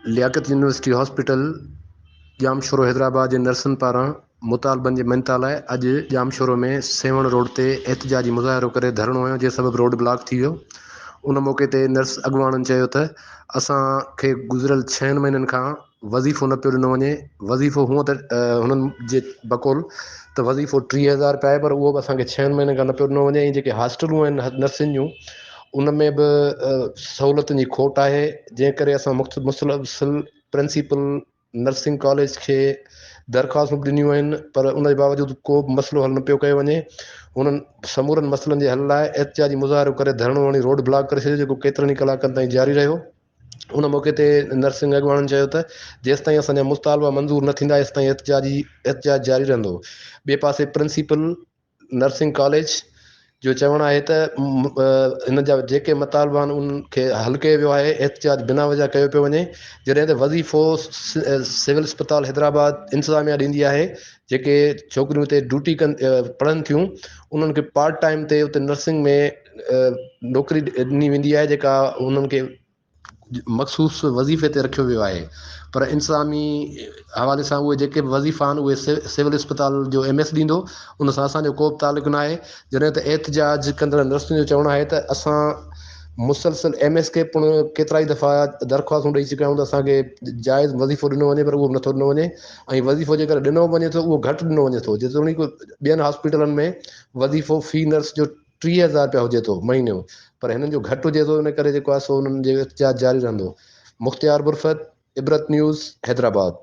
لياقت university hospital Jamshoro Hyderabad جي نرسن پاران مطالبن جي مڃتا لاء اڄ ڄامشورو ۾ سيوهڻ روڊ تي احتجاجي مظاهرو ڪري ڌرڻو هنيو جنهن سبب روڊ بلاڪ ٿي ويو ان موقعي تي نرس اڳواڻن چيو ته اسان کي گذريل ڇهن مهينن کان وظيفو نه پيو ڏنو وڃي، وظيفو هونء ته هنن جي بقول ته وظيفو ٽيهه هزار رپيا آهي پر اهو به اسان کي ڇهن مهينن کان نه پيو ڏنو وڃي ۽ جيڪي هاسٽلون آهن نرسين جون ان ۾ به سهولتن جي کوٽ آهي جنهن ڪري اسان مسلسل پرنسيپل نرسنگ ڪاليج کي درخواستون به ڏنيون آهن پر ان جي باوجود ڪو به مسئلو حل نه پيو ڪيو وڃي انهن سمورن مسئلن جي حل لاء احتجاجي مظاهرو ڪري ڌرڻو هڻي روڊ بلاڪ ڪري ڇڏيو جيڪو ڪيترن ئي ڪلاڪن تائين جاري رهيو ان موقعي تي نرسنگ اڳواڻن چيو ته جيستائين اسان جا مطالبا منظور نه ٿيندا ايستائين احتجاجي احتجاج جاري رهندو ٻئي پاسي پرنسيپل نرسنگ ڪاليج جو چوڻ آهي ته هن جا جيڪي مطالبا آهن ان کي حل ڪيو ويو آهي احتجاج بنا وجه ڪيو پيو وڃي جڏهن ته وظيفو سول اسپتال حيدرآباد انتظاميا ڏيندي آهي جيڪي ڇوڪريون اتي ڊيوٽي ڪن پڙهن ٿيون انهن کي پارٽ ٽائم تي اتي نرسنگ ۾ نوڪري ڏني ويندي آهي جيڪا انهن کي مخصوص وظيفي تي رکيو ويو آهي پر انتظامي حوالي سان اهي جيڪي به وظيفا آهن اهي سول اسپتال جو ايم ايس ڏيندو ان سان اسانجو ڪو به تعلق نه آهي جڏهن ته احتجاج ڪندڙ نرسن جو چوڻ آهي ته اسان مسلسل ايم ايس کي پڻ ڪيترائي دفعا درخواستون ڏئي چڪا آهيون ته اسان کي جائز وظيفو ڏنو وڃي پر اهو به نٿو ڏنو وڃي ۽ وظيفو جيڪر ڏنو به وڃي ٿو اهو گهٽ ڏنو وڃي ٿو جيتوڻيڪ ٻين هاسپيٽلن ۾ وظيفو في نرس جو ٽيهه هزار رپيا هجي ٿو مهيني جو پر هنن جو گهٽ هجي ٿو ان ڪري جيڪو آهي سو انهن جو احتجاج جاري رهندو مختيار برفت عبرت نيوز حيدرآباد.